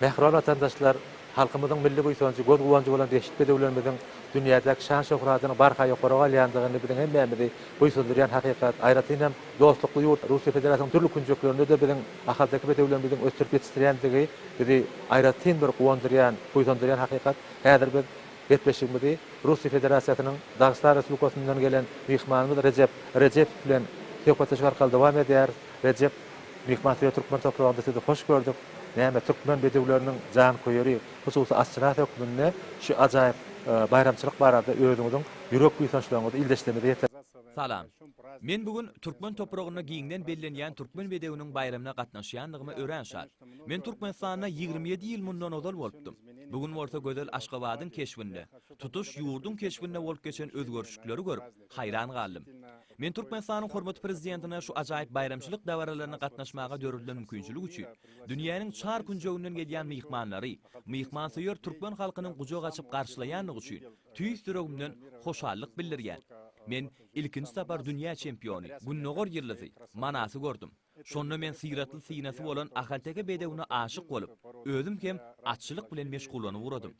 Mähriban watandaşlar, halkymyzyň milli buýsanjy, göz-guwanjy bolan behşit bedewlerimiziň dünýädäki şan-şöhratynyň barha ýokara galýandygyny biziň hemmämizi buýsandyrýan hakykat. Aýratyn hem dostlukly ýurt Russiýa Federasiýasynyň dürli künjeklerinde-de biziň Ahalteke bedewlerimiziň ösdürip ýetişdirýändigi bizi aýratyn bir guwandyrýan, buýsandyrýan hakykat. Häzir biz gepleşigimizi Russiýa Federasiýasynyň Dagystan Respublikasyndan gelen myhmanymyz Rejep Rejepow bilen söhbetdeşlik arkaly dowam edýäris. Rejep myhman söýer türkmen topragynda sizi hoş gördük. Näme türkmen bedewleriniň janköýeri, hususy aşçynasy hökmünde şu ajaýyp baýramçylyk barada özüňiziň ýürek buýsançlaryňyzy ildeşlerimize ýetirip. Salam. Men bu gün türkmen topragynda giňden bellenýän türkmen bedewiniň baýramyna gatnaşýandygyma örän şat. Men Türkmenistanda ýigrimi ýedi ýyl mundan ozal bolupdym. Bu gün bolsa gözel Aşgabadyň keşbinde, tutuş ýurduň keşbinde bolup geçen özgerişikleri görüp, Haýran galdym. Men Türkmenistanyň hormatly Prezidentine şu ajaýyp baýramçylyk dabaralaryna gatnaşmaga döredilen mümkinçilik üçin, dünýäniň çar künjeginden gelýän myhmanlary myhmansöýer türkmen halkynyň gujak açyp garşylaýandygy üçin tüýs ýüregimden hoşallyk bildirýän. Men ilkinji sapar dünýä çempiony, Gündogar ýyldyzy, Manasy gördüm. Şonda men syratly synasy bolan ahalteke bedewine aşyk bolup, özüm hem atçylyk bilen meşgullanyp ugradym.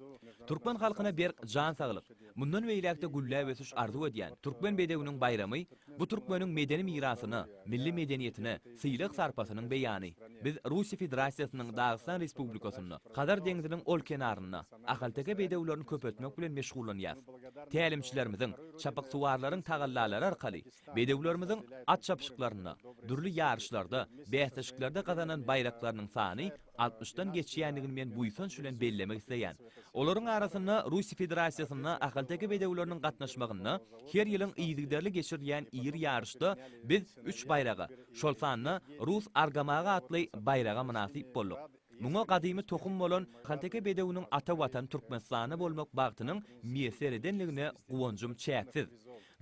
Türkmen halkyna berk jan saglyk, mundan beýläk-de gülläp ösüş arzuw edýän Türkmen bedewiniň baýramy, bu türkmeniň medeni mirasyna, milli medeniýetine, sylag-sarpasynyň beýany. Biz Russiýa Federasiýasynyň Dagystan Respublikasynda, Hazar deňziniň ol kenarynda ahalteke bedewlerini köpeltmek bilen meşgullanýarys. Tälimçilerimiziň, çapyksuwarlaryň tagallalary arkaly Bedewlerimiziň at çapyşyklarynda, dürli ýaryşlarda, bäsleşiklerde gazanan baýraklarynyň sany altmyşdan geçýändigini men buýsanç bilen bellemek isleýän. Olaryň arasynda Russiýa Federasiýasynda ahalteke bedewleriniň gatnaşmagynda her ýylyň yzygiderli geçirilýän iri ýaryşda biz üç baýraga, şol sanda Rus argamagy atly baýraga mynasyp bolduk. Muňa gadymy tohum bolan Halteke bedewiniň ata watan Türkmenistanda bolmak bagtynyň miýesser edenligine guwanjym çäksiz.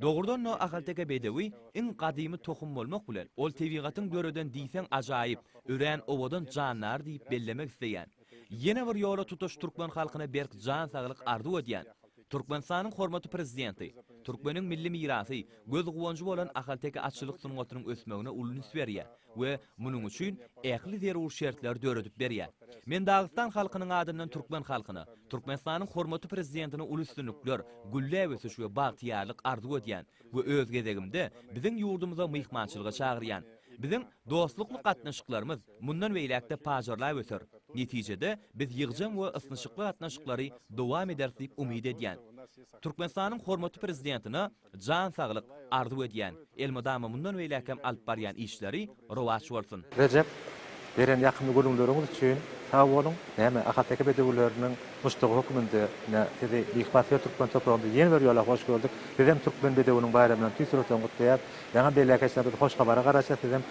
Dogrudan-da, ahalteke bedewi iň gadymy tohum bolmak bilen, ol tebigatyň döreden diýseň ajaýyp, örän owadan jandary diýip bellemek isleýän. Ýene bir ýola tutaş türkmen halkyna berk jan saglyk arzuw edýän. Türkmenistanyň hormatly Prezidenti, Türkmeniň milli mirasy, göz-guwanjy bolan ahalteke atçylyk sungatynyň ösmegine uly üns berýär we munuň üçin ähli zerur şertleri döredip berýär. Men Dagystan halkynyň adyndan türkmen halkyna, Türkmenistanyň hormatly Prezidentine uly üstünlikler, gülläp ösüş we bagtyýarlyk arzuw edýän. we öz gezegimde biziň ýurdumyza myhmançylyga çagyrýan. Biziň dostlukly gatnaşyklarymyz mundan beýläk-de pajarlap öser. Netijede, biz ýygjam we ysnyşykly gatnaşyklary dowam ederis diýip umyt edýän. Türkmenistanyň hormatly Prezidentine jan saglyk arzuw edýän, elmydama mundan beýläk hem alyp barýan işleri Rowaç bolsun. Rejep, beren ýakymly gürrüňleriňiz üçin sag boluň! Näme, ahalteke bedewileriniň muşdagy höküminde ine, sizi Beýik Bathyýet türkmen topragynda ýene bir ýola hoş gördük. Sizem türkmen bedewiniň baýramyny tüýs ýürekden gutlaýas. Ýaňy belläkeçler biz hoş habara garaşýas, sizem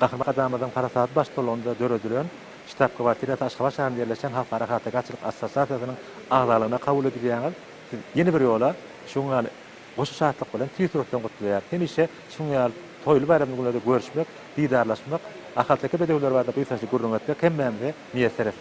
Gahryman Arkadagymyzyň parasatly baştutanlygynda döredilen, ştab-kwartirasy Aşgabat şäherinde ýerleşen Halkara ahalteke atçylyk assosiasiýasynyň agzalygyna kabul edilýäňiz. Siz ýene bir ýola şuň ýaly Goşa şatlyk bilen tüýs ýürekden gutlaýar. Hemişe şunuň ýaly toýly baýramly günlerde görüşmek, didarlaşmak, ahalteke bedewleri barada buýsançly gürrüň etmek hemmämize miýesser etsin!